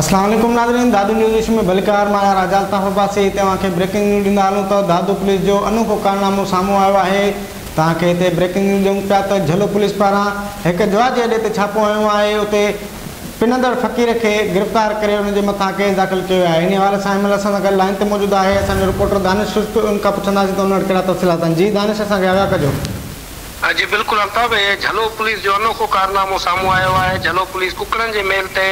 اسلام عليڪم ناظرين دادو نيوز ايشو ۾ ڀليڪار مان آهيان راجا الطاف عباسي هتي اوهان کي بريڪنگ نيوز ڏيندا هلون ته دادو پوليس جو انوکو ڪارنامو سامهون آيو آهي توهان کي هتي بريڪنگ نيوز ڏيون پيا ته جهلو پوليس پاران هڪ جوا جي اڏي تي ڇاپو هنيو آهي اتي پنندڙ فقير کي گرفتار ڪري ان جي مٿان ڪيس داخل ڪيو ويو آهي انهي حوالي سان ايم ايل اسان سان گڏ لائين تي موجود آهي اسان جو رپورٽر دانش سرت ان کان پڇنداسين ته ان وٽ ڪهڙا تفصيلات آهن جي دانش اسان کي آگاهه ڪجو. جي بلڪل الطاف اهي جهلو پوليس جو انوکو ڪارنامو سامهون آيو آهي، جهلو پوليس ڪڪڙن جي ميل تي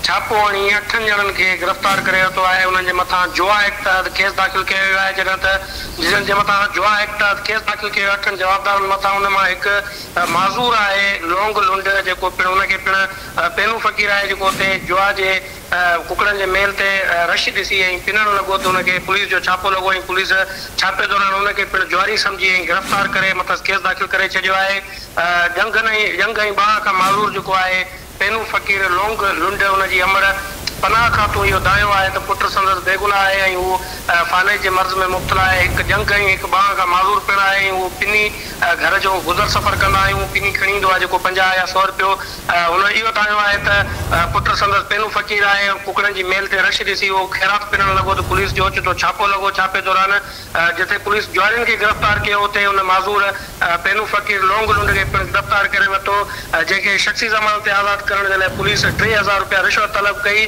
ڇاپو هڻي اٺن ڄڻن کي گرفتار ڪري ورتو آهي، انهن جي مٿان جوا ايڪٽ تحت ڪيس داخل ڪيو ويو آهي جڏهن ته جنهن جي مٿان جوا ايڪٽ تحت ڪيس داخل ڪيو اٺن جوابدارن مٿان ان مان هڪ معذور آهي لونگ لنڊ جيڪو پڻ ان کي پڻ پينو فقير آهي جيڪو اتي جوا جي ڪڪڙن جي ميل تي رش ڏسي ائين پنڻ لڳو ته ان کي پوليس جو ڇاپو لڳو ۽ پوليس ڇاپي دوران ان کي پڻ جواري سمجهي ۽ گرفتار ڪري مٿس ڪيس داخل ڪري ڇڏيو آهي. ڄنگهن ۽ ڄنگهه ۽ ٻانهن کان معذور جيڪو آهي پينو فقير لونگ لنڊ ان جي امڙ پناهه کان تون اهو دانهيو آهي ته پٽ سندس بيگناهه آهي ۽ هو فالج جي مرض ۾ مبتلا آهي هڪ ڄنگهه ۽ هڪ ٻانهن کان معذور پڻ آهي ۽ هو پني گهر جو گذر سفر ڪندا آهيون پني کڻي ايندو آهي جيڪو پنجاهه يا سؤ رپيو هن اهو ڌايو آهي ته پٽ سندس پينو فقير آهي. ڪڪڙن جي ميل تي رش ڏسي اهو خيرات پنڻ لڳو ته پوليس جو اوچتو ڇاپو لڳو. ڇاپي دوران جتي پوليس جوارين کي گرفتار ڪيو اتي ان معذور پينو فقير لونگ لنڊ کي پڻ گرفتار ڪري ورتو جنهن کي شخصي ضمانت تي آزاد ڪرڻ جي لاء پوليس ٽي هزار رپيا رشوت طلب ڪئي.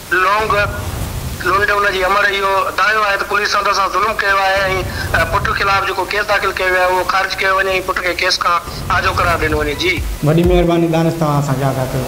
لونگ لونڊ ان جي امڙ اهو دانهيو آهي ته پوليس سندس سان ظلم ڪيو آهي ۽ پٽ خلاف جيڪو ڪيس داخل ڪيو ويو آهي اهو خارج ڪيو وڃي ۽ پٽ کي ڪيس کان آجو قرار ڏنو وڃي جي. وڏي مهرباني دانش توهان اسان کي آگاهه ڪيو.